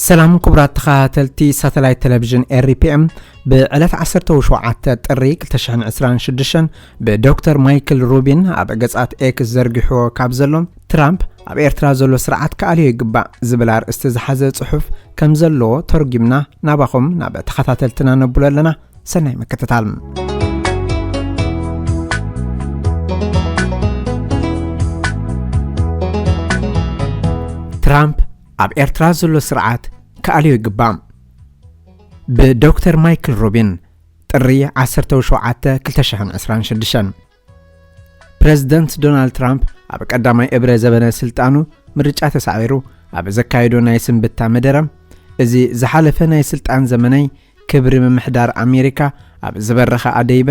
ሰላም ክቡራት ተኸታተልቲ ሳተላይት ቴሌቪዥን ኤሪፒኤም ብዕለት 17 ጥሪ 2026 ብዶክተር ማይክል ሩቢን ኣብ ገጻት ኤክስ ዘርጊሕዎ ካብ ዘሎ ትራምፕ ኣብ ኤርትራ ዘሎ ስርዓት ክኣልዮ ይግባእ ዝብል ኣርእስቲ ዝሓዘ ጽሑፍ ከም ዘለዎ ተርጒምና ናባኹም ናብ ተኸታተልትና ነብሎ ኣለና ሰናይ ምክትታል ትራምፕ ኣብ ኤርትራ ዘሎ ስርዓት ክኣልዮ ይግባእ። ብዶክተር ማይክል ሩቢን ጥሪ 17 2026 ፕረዚደንት ዶናልድ ትራምፕ ኣብ ቀዳማይ እብረ ዘበነ ስልጣኑ ምርጫ ተሳዒሩ ኣብ ዘካየዶ ናይ ስንብታ መደረ እዚ ዝሓለፈ ናይ ስልጣን ዘመነይ ክብሪ ምምሕዳር ኣሜሪካ ኣብ ዝበረኸ ኣደይበ፣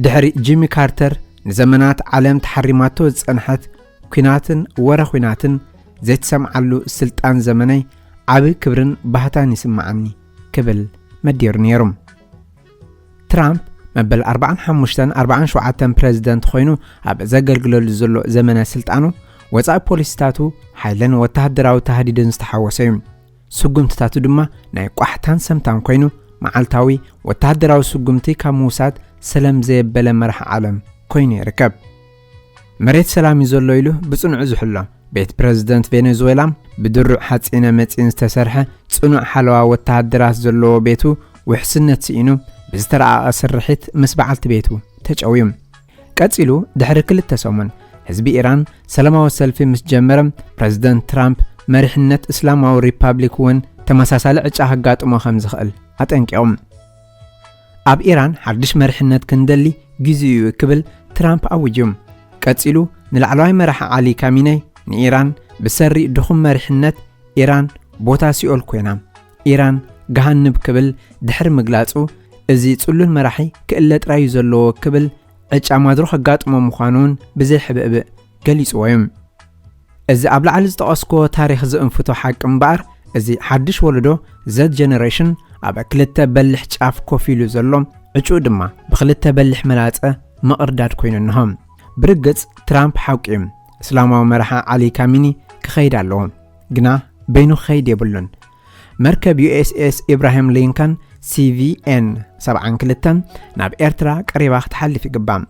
ድሕሪ ጂሚ ካርተር ንዘመናት ዓለም ተሓሪማቶ ዝጸንሐት ኲናትን ወረ ዂናትን ዘይትሰምዓሉ ስልጣን ዘመነይ ዓቢ ክብርን ባህታን ይስምዓኒ ክብል መዲሩ ነይሩ። ትራምፕ መበል ኣርባዓን ሓሙሽተን ኣርባዓን ሸውዓተን ፕረዚደንት ኾይኑ ኣብ ዘገልግለሉ ዘሎ ዘመነ ስልጣኑ ወጻኢ ፖሊሲታቱ ሓይልን ወተሃደራዊ ታህዲድን ዝተሓወሰ እዩ። ስጉምትታቱ ድማ ናይ ቋሕታን ሰምታን ኮይኑ መዓልታዊ ወተሃደራዊ ስጉምቲ ካብ ምውሳድ ሰለም ዘየበለ መራሒ ዓለም ኮይኑ ይርከብ። መሬት ሰላም እዩ ዘሎ ኢሉ ብጽኑዑ ዝሕሎ ቤት ፕረዚደንት ቬኔዙዌላም ብድሩዕ ሓጺነ መጺን ዝተሰርሐ ጽኑዕ ሓለዋ ወተሃደራት ዘለዎ ቤቱ ውሕስነት ስኢኑ ብዝተራቐቐ ስርሒት ምስ በዓልቲ ቤቱ ተጨውዩ። ቀጺሉ ድሕሪ ክልተ ሰሙን ህዝቢ ኢራን ሰላማዊ ሰልፊ ምስ ጀመረ፣ ፕረዚደንት ትራምፕ መሪሕነት እስላማዊ ሪፓብሊክ እውን ተመሳሳሊ ዕጫ ከጋጥሞ ከም ዝኽእል ኣጠንቂቖም። ኣብ ኢራን ሓድሽ መሪሕነት ክንደሊ ግዜኡ'ዩ ክብል ትራምፕ ኣዊጁ። ቀጺሉ ንላዕለዋይ መራሒ ዓሊ ካሚነይ ንኢራን ብሰሪ ድኹም መሪሕነት ኢራን ቦታ ሲኦል ኮይና፣ ኢራን ገሃንብ ክብል ድሕሪ ምግላጹ፣ እዚ ጽሉል መራሒ ክእለ ጥራይ እዩ ዘለዎ ክብል ዕጫ ማድሮ ከጋጥሞ ምዃኑ'ውን ብዘይ ሕብእብእ ገሊጽዎ እዩ። እዚ ኣብ ላዕሊ ዝጠቐስክዎ ታሪኽ ዝእንፍቶ ሓቂ እምበኣር፣ እዚ ሓድሽ ወለዶ፣ ዘድ ጀነረሽን፣ ኣብ ክልተ በሊሕ ጫፍ ኮፍ ኢሉ ዘሎ፣ ዕጭኡ ድማ ብኽልተ በሊሕ መላጸ ምቕርዳድ ኮይኑ እንሆ። ብርግጽ ትራምፕ ሓቁ'ዩ፣ እስላማዊ መራሒ ዓሊ ካሚኒ ክኸይድ ኣለዎ። ግና በይኑ ክኸይድ የብሉን። መርከብ ዩኤስኤስ ኢብራሂም ሊንከን ሲቪኤን 72 ናብ ኤርትራ ቀሪባ ክትሓልፍ ይግባእ።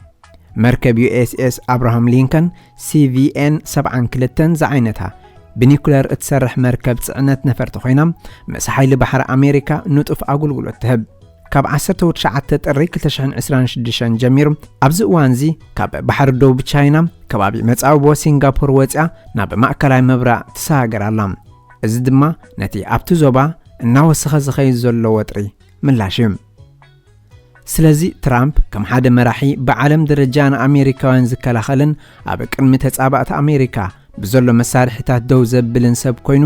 መርከብ ዩኤስኤስ ኣብርሃም ሊንከን ሲቪኤን 72 ዝዓይነታ ብኒኩለር እትሰርሕ መርከብ ጽዕነት ነፈርቲ ኮይና ምስ ሓይሊ ባሕሪ ኣሜሪካ ንጡፍ ኣገልግሎት ትህብ። ካብ ዓሰርተ ትሽዓተ ጥሪ ክልተ ሽሕን ዕስራን ሽዱሽተን ጀሚሩ ኣብዚ እዋንዚ ካብ ባሕሪ ደቡብ ቻይና ከባቢ መጻብቦ ሲንጋፖር ወጺኣ ናብ ማእከላይ ምብራቕ ትሰጋገር ኣላ። እዚ ድማ ነቲ ኣብቲ ዞባ እናወሰኸ ዝኸይድ ዘሎ ወጥሪ ምላሽ እዩ። ስለዚ ትራምፕ ከም ሓደ መራሒ ብዓለም ደረጃ ንኣሜሪካውያን ዝከላኸልን ኣብ ቅድሚ ተጻባእቲ ኣሜሪካ ብዘሎ መሳርሒታት ደው ዘብልን ሰብ ኮይኑ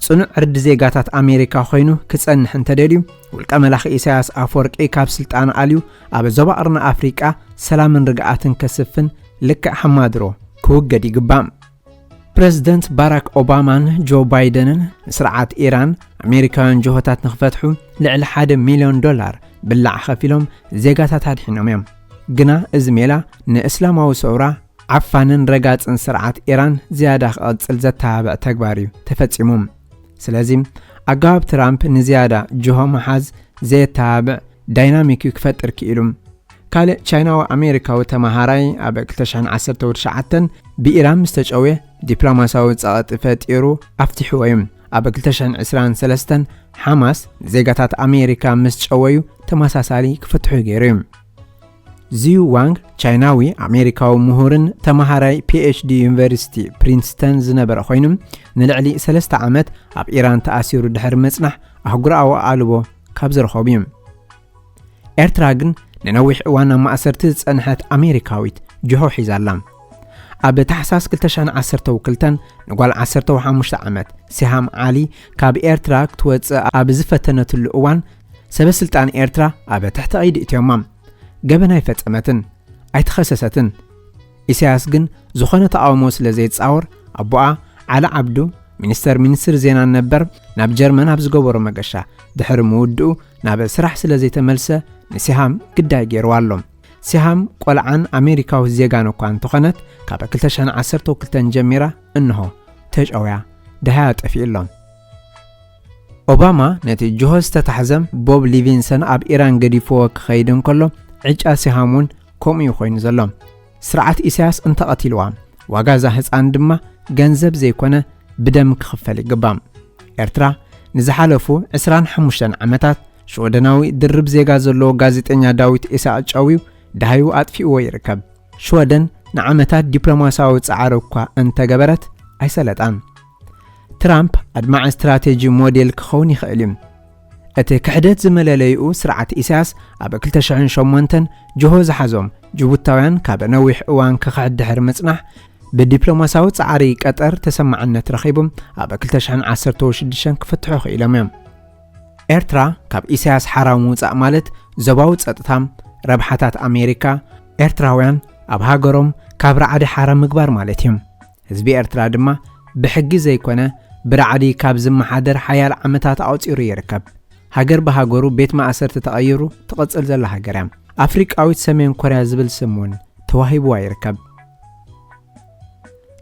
ጽኑዕ ዕርዲ ዜጋታት ኣሜሪካ ኾይኑ ክጸንሕ እንተደልዩ ውልቀ መላኺ ኢሳያስ ኣፈወርቂ ካብ ስልጣኑ ኣልዩ ኣብ ዞባ ቕርኒ ኣፍሪቃ ሰላምን ርግኣትን ከስፍን ልክዕ ሓማድሮ ክውገድ ይግባእ። ፕረዚደንት ባራክ ኦባማን ጆ ባይደንን ንስርዓት ኢራን ኣሜሪካውያን ጅሆታት ንኽፈትሑ ልዕሊ ሓደ ሚልዮን ዶላር ብላዕ ኸፊሎም ዜጋታት ኣድሒኖም እዮም። ግና እዚ ሜላ ንእስላማዊ ሰውራ ዓፋንን ረጋጽን ስርዓት ኢራን ዝያዳ ክቕጽል ዘተባብዕ ተግባር እዩ ተፈጺሙ። ስለዚ ኣገባብ ትራምፕ ንዝያዳ ጅሆ ምሓዝ ዘየተባብዕ ዳይናሚክ እዩ ክፈጥር ክኢሉ። ካልእ ቻይናዊ ኣሜሪካዊ ተመሃራይ ኣብ 2019 ብኢራን ምስ ተጨውየ ዲፕሎማስያዊ ጸቕጢ ፈጢሩ ኣፍቲሕዎ እዩ። ኣብ ክልተ ሽሕን ዕስራን ሰለስተን ሓማስ ንዜጋታት ኣሜሪካ ምስ ጨወዩ ተመሳሳሊ ክፍትሑ ገይሩ እዩ። ዚዩ ዋንግ ቻይናዊ ኣሜሪካዊ ምሁርን ተመሃራይ ፒኤችዲ ዩኒቨርሲቲ ፕሪንስተን ዝነበረ ኮይኑ ንልዕሊ ሰለስተ ዓመት ኣብ ኢራን ተኣሲሩ ድሕሪ ምጽናሕ ኣህጉራዊ ኣቓልቦ ካብ ዝረኸቡ እዩ። ኤርትራ ግን ንነዊሕ እዋን ኣብ ማእሰርቲ ዝጸንሐት ኣሜሪካዊት ጅሆ ሒዛ ኣላ። ኣብ ታሕሳስ 2012 ንጓል ዓሰርተ ሓሙሽተ ዓመት ሲሃም ዓሊ ካብ ኤርትራ ክትወጽእ ኣብ ዝፈተነትሉ እዋን ሰበስልጣን ኤርትራ ኣብ ትሕቲ ቀይዲ እትዮማ። ገበን ኣይፈጸመትን፣ ኣይተኸሰሰትን። ኢሳያስ ግን ዝኾነ ተቓውሞ ስለ ዘይጻወር ኣቦኣ ዓሊ ዓብዱ ሚኒስተር ሚኒስትሪ ዜናን ነበር ናብ ጀርመን ኣብ ዝገበሮ መገሻ ድሕሪ ምውድኡ ናብ ስራሕ ስለ ዘይተመልሰ ንሲሃም ግዳይ ገይርዋ ኣሎ። ሲሃም ቆልዓን ኣሜሪካዊት ዜጋን እኳ እንተኾነት ካብ 2012 ጀሚራ እንሆ ተጨውያ ደሃያ ጠፊኡ ኣሎ። ኦባማ ነቲ ጅሆ ዝተታሕዘ ቦብ ሊቪንሰን ኣብ ኢራን ገዲፍዎ ክኸይድ እንከሎ ዕጫ ሲሃም እውን ከምኡ እዩ ኮይኑ ዘሎ። ስርዓት ኢሳያስ እንተቐቲልዋ ዋጋ እዛ ህጻን ድማ ገንዘብ ዘይኮነ ብደም ክኽፈል ይግባእ። ኤርትራ ንዝሓለፉ ዕስራን ሓሙሽተን ዓመታት ሽወደናዊ ድርብ ዜጋ ዘለዎ ጋዜጠኛ ዳዊት ኢሳቕ ጨውዩ ደሃዩ ኣጥፊእዎ ይርከብ። ሽወደን ንዓመታት ዲፕሎማስያዊ ጻዕሪ እኳ እንተገበረት ኣይሰለጣን። ትራምፕ ኣድማዒ ስትራቴጂ ሞዴል ክኸውን ይኽእል እዩ። እቲ ክሕደት ዝመለለይኡ ስርዓት ኢሳያስ ኣብ ክልተ ሽሕን ሸሞንተን ጅሆ ዝሓዞም ጅቡታውያን ካብ ነዊሕ እዋን ክኽሕድ ድሕሪ ምጽናሕ ብዲፕሎማሳዊ ጻዕሪ ቀጠር ተሰማዕነት ረኺቡም ኣብ ክልተ ሽሕን ዓሰርተው ሽዱሽተን ክፍትሑ ክኢሎም እዮም። ኤርትራ ካብ ኢሳያስ ሓራዊ ምውጻእ ማለት ዞባዊ ጸጥታ፣ ረብሓታት ኣሜሪካ፣ ኤርትራውያን ኣብ ሃገሮም ካብ ራዕዲ ሓራ ምግባር ማለት እዩ። ህዝቢ ኤርትራ ድማ ብሕጊ ዘይኮነ ብራዕዲ ካብ ዝመሓደር ሓያል ዓመታት ኣቑጺሩ ይርከብ። ሃገር ብሃገሩ ቤት ማእሰርቲ ተቐይሩ ትቕጽል ዘላ ሃገር እያ። ኣፍሪቃዊት ሰሜን ኮርያ ዝብል ስም እውን ተዋሂብዋ ይርከብ።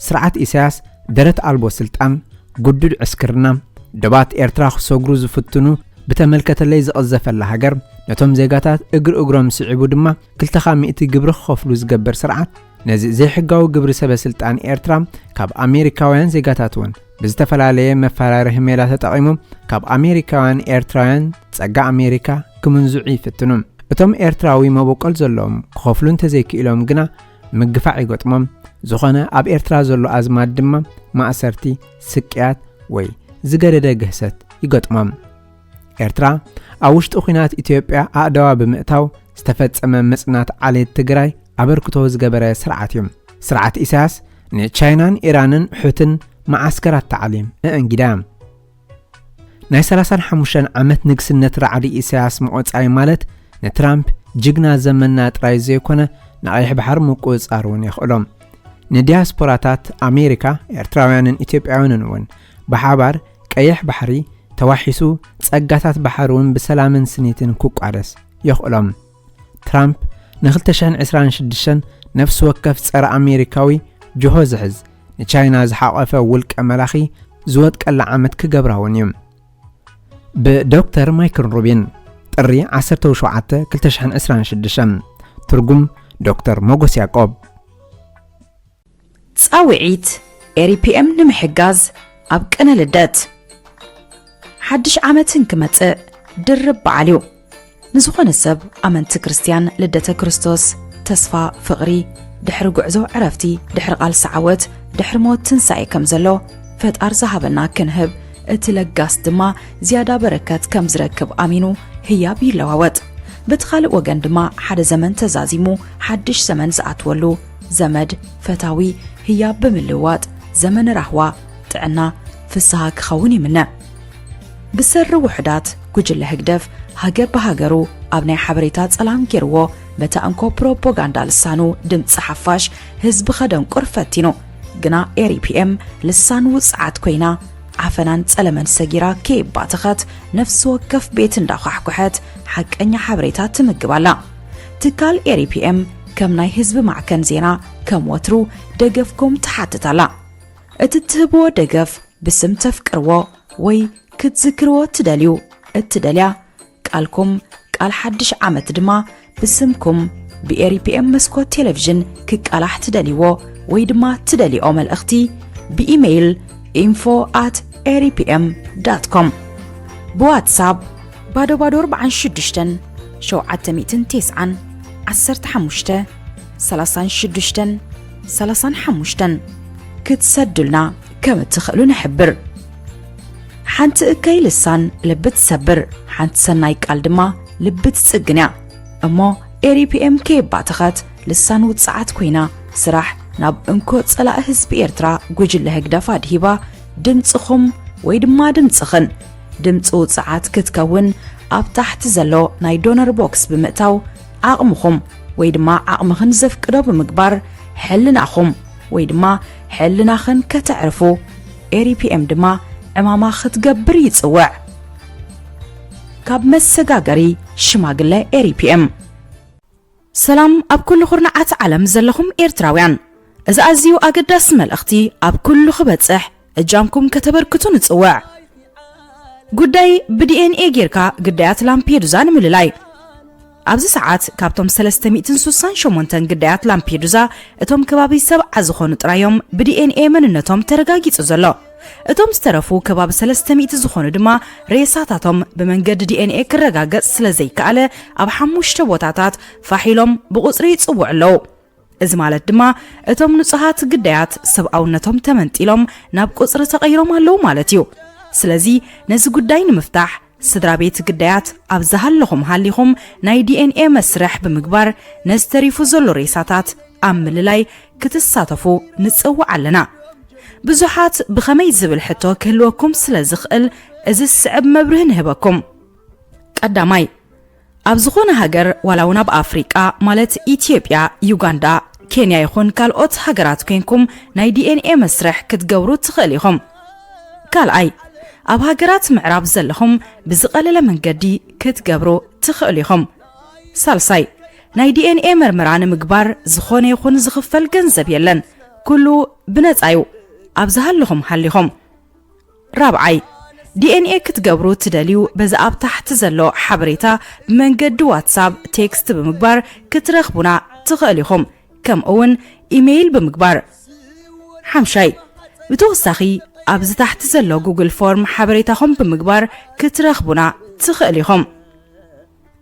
ስርዓት ኢሳያስ ደረት ኣልቦ ስልጣን፣ ግዱድ ዕስክርና፣ ዶባት ኤርትራ ክሰግሩ ዝፍትኑ ብተመልከተለይ ዝቕዘፈላ ሃገር፣ ነቶም ዜጋታት እግሪ እግሮም ስዒቡ ድማ ክልተኻ ሚእቲ ግብሪ ክኸፍሉ ዝገብር ስርዓት፣ ነዚ ዘይሕጋዊ ግብሪ ሰበስልጣን ኤርትራ ካብ ኣሜሪካውያን ዜጋታት'ውን ብዝተፈላለየ መፈራርሂ ሜላ ተጠቒሞም ካብ ኣሜሪካውያን ኤርትራውያን ጸጋ ኣሜሪካ ክምንዝዑ ይፍትኑ። እቶም ኤርትራዊ መበቆል ዘለዎም ክኸፍሉ እንተዘይክኢሎም ግና ምግፋዕ ይገጥሞም። ዝኾነ ኣብ ኤርትራ ዘሎ ኣዝማድ ድማ ማእሰርቲ፣ ስቅያት ወይ ዝገደደ ግህሰት ይገጥሞም። ኤርትራ ኣብ ውሽጢ ኲናት ኢትዮጵያ ኣእዳዋ ብምእታው ዝተፈጸመ ምጽናት ዓሌት ትግራይ ኣበርክቶ ዝገበረ ስርዓት እዩ። ስርዓት ኢሳያስ ንቻይናን ኢራንን ሑትን መዓስከራት ታዕሊም እእንጊዳ ናይ 35 ዓመት ንግስነት ራዕዲ ኢሳያስ ምቖጻይ ማለት ንትራምፕ ጅግና ዘመና ጥራይ ዘይኮነ ንቐይሕ ባሕሪ ምቁጽጻር እውን የኽእሎም ንዲያስፖራታት ኣሜሪካ ኤርትራውያንን ኢትዮጵያውያንን እውን ብሓባር ቀይሕ ባሕሪ ተዋሒሱ ጸጋታት ባሕሪ'ውን ብሰላምን ስኒትን ክቋደስ የኽእሎም። ትራምፕ ን ክልተ ሽሕን ዕስራን ሽዱሽተን ነፍሲ ወከፍ ጸረ ኣሜሪካዊ ጅሆ ዝሕዝ ንቻይና ዝሓቖፈ ውልቀ መላኺ ዝወድቀላ ዓመት ክገብራ'ውን እዩ። ብ ዶክተር ማይክል ሩቢን፣ ጥሪ ዓሰርተው ሸውዓተ፣ ክልተ ሽሕን ዕስራን ሽዱሽተን። ትርጉም፣ ዶክተር ሞጎስ ያቆብ። ፃውዒት ኤሪፒኤም ንምሕጋዝ ኣብ ቅነ ልደት ሓድሽ ዓመትን ክመፅእ ድርብ በዓል እዩ ንዝኾነ ሰብ ኣመንቲ ክርስትያን ልደተ ክርስቶስ ተስፋ ፍቕሪ ድሕሪ ጉዕዞ ዕረፍቲ ድሕሪ ቓልሲ ዓወት ድሕሪ ሞት ትንሳኤ ከም ዘሎ ፈጣር ዝሃበና ክንህብ እቲ ለጋስ ድማ ዝያዳ በረከት ከም ዝረክብ ኣሚኑ ህያብ ይለዋወጥ በቲ ካልእ ወገን ድማ ሓደ ዘመን ተዛዚሙ ሓድሽ ዘመን ዝኣትወሉ ዘመድ፣ ፈታዊ፣ ህያብ ብምልውዋጥ ዘመን ራህዋ፣ ጥዕና፣ ፍስሃ ክኸውን ይምነ። ብሰሪ ውሑዳት ጉጅለ ህግደፍ ሃገር ብሃገሩ ኣብ ናይ ሓበሬታ ጸላም ጌርዎ በታ እንኮ ፕሮፖጋንዳ ልሳኑ ድምጺ ሓፋሽ ህዝቢ ከደንቁር ፈቲኑ ግና ኤሪፒኤም ልሳን ውጽዓት ኮይና ዓፈናን ጸለመን ሰጊራ ከይባተኸት ነፍሲ ወከፍ ቤት እንዳኳሕኩሐት ሓቀኛ ሓበሬታ ትምግብ ኣላ። ትካል ኤሪፒኤም ከም ናይ ህዝቢ ማዕከን ዜና ከም ወትሩ ደገፍኩም ትሓትት ኣላ። እቲ እትህብዎ ደገፍ ብስም ተፍቅርዎ ወይ ክትዝክርዎ እትደልዩ እትደልያ ቃልኩም ቃል ሓድሽ ዓመት ድማ ብስምኩም ብኤሪፒኤም መስኮት ቴሌቪዥን ክቃላሕ ትደልይዎ ወይ ድማ ትደልይኦ መልእኽቲ ብኢሜይል ኢንፎ ኣት ኤሪፒኤም ዳት ኮም ብዋትሳፕ ባዶ ባዶ ኣርብዓን ሽዱሽተን ሸውዓተ ሚእትን ቴስዓን ዓሰርተ ሓሙሽተ ሰላሳን ሽዱሽተን ሰላሳን ሓሙሽተን ክትሰዱልና ከም እትኽእሉ ንሕብር። ሓንቲ እከይ ልሳን ልቢ ትሰብር፣ ሓንቲ ሰናይ ቃል ድማ ልቢ ትጽግን እያ እሞ ኤሪፒኤም ከየባተኸት ልሳን ውጽዓት ኮይና ስራሕ ናብ እንኮ ጸላኢ ህዝቢ ኤርትራ ጉጅለ ህግደፍ ኣድሂባ ድምጽኹም ወይ ድማ ድምጽኽን ድምጺ ውጽዓት ክትከውን ኣብ ታሕቲ ዘሎ ናይ ዶነር ቦክስ ብምእታው ዓቕምኹም ወይ ድማ ዓቕምኽን ዘፍቅዶ ብምግባር ሕልናኹም ወይ ድማ ሕልናኽን ከተዕርፉ ኤሪፒኤም ድማ ዕማማ ክትገብር ይጽውዕ። ካብ መሰጋገሪ ሽማግለ ኤሪፒኤም ሰላም ኣብ ኩሉ ኩርናዓት ዓለም ዘለኹም ኤርትራውያን እዚ ኣዝዩ ኣገዳሲ መልእኽቲ ኣብ ኩሉ ክበጽሕ እጃምኩም ከተበርክቱ ንጽውዕ። ጉዳይ ብዲኤንኤ ጌርካ ግዳያት ላምፔዱዛ ንምልላይ ኣብዚ ሰዓት ካብቶም ሰለስተ ሚእትን ሱሳን ሸሞንተን ግዳያት ላምፔዱዛ እቶም ከባቢ ሰብዓ ዝኾኑ ጥራይ እዮም ብዲኤንኤ መንነቶም ተረጋጊጹ ዘሎ። እቶም ዝተረፉ ከባቢ ሰለስተ ሚእቲ ዝኾኑ ድማ ሬሳታቶም ብመንገዲ ዲኤንኤ ክረጋገጽ ስለ ዘይከኣለ ኣብ ሓሙሽተ ቦታታት ፋሕ ኢሎም ብቑጽሪ ይጽውዑ ኣለዉ። እዚ ማለት ድማ እቶም ንጹሃት ግዳያት ሰብኣውነቶም ተመንጢሎም ናብ ቁጽሪ ተቐይሮም ኣለዉ ማለት እዩ። ስለዚ ነዚ ጉዳይ ንምፍታሕ ስድራቤት ግዳያት ኣብ ዝሃለኹም ሃሊኹም ናይ ዲኤንኤ መስርሕ ብምግባር ነዚ ተሪፉ ዘሎ ሬሳታት ኣብ ምልላይ ክትሳተፉ ንጽውዕ ኣለና። ብዙሓት ብኸመይ ዝብል ሕቶ ክህልወኩም ስለ ዝኽእል እዚ ዝስዕብ መብርሂ ንህበኩም። ቀዳማይ፣ ኣብ ዝኾነ ሃገር ዋላ ውን ኣብ ኣፍሪቃ ማለት ኢትዮጵያ ዩጋንዳ ኬንያ ይኹን ካልኦት ሃገራት ኮንኩም ናይ ዲኤንኤ መስርሕ ክትገብሩ ትኽእል ኢኹም። ካልኣይ ኣብ ሃገራት ምዕራብ ዘለኹም ብዝቐለለ መንገዲ ክትገብሩ ትኽእሉ ኢኹም። ሳልሳይ ናይ ዲኤንኤ መርመራ ንምግባር ዝኾነ ይኹን ዝኽፈል ገንዘብ የለን ኩሉ ብነፃ ዩ ኣብ ዝሃለኹም ሃሊኹም። ራብዓይ፣ DNA ክትገብሩ እትደልዩ በዚ ኣብ ታሕቲ ዘሎ ሓበሬታ ብመንገዲ ዋትሳብ ቴክስት ብምግባር ክትረኽቡና ትኸእሉ ኢኹም፣ ከምኡ እውን ኢመይል ብምግባር። ሓምሻይ፣ ብተወሳኺ ኣብዚ ታሕቲ ዘሎ ጉግል ፎርም ሓበሬታኹም ብምግባር ክትረኽቡና ትኸእሉ ኢኹም።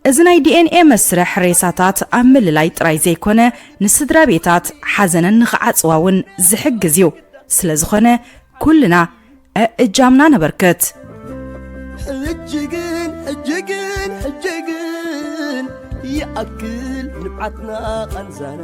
እዚ ናይ ዲኤንኤ መስርሕ ሬሳታት ኣብ ምልላይ ጥራይ ዘይኮነ ንስድራቤታት ሓዘነን ንኽዓጽዋ እውን ዝሕግዝ እዩ። ስለዝኾነ ኩልና እእጃምና ነበርክት። ሕጂ ግን ሕጂ ግን ሕጂ ግን ይኣክል ንብዓትና ቃንዛና።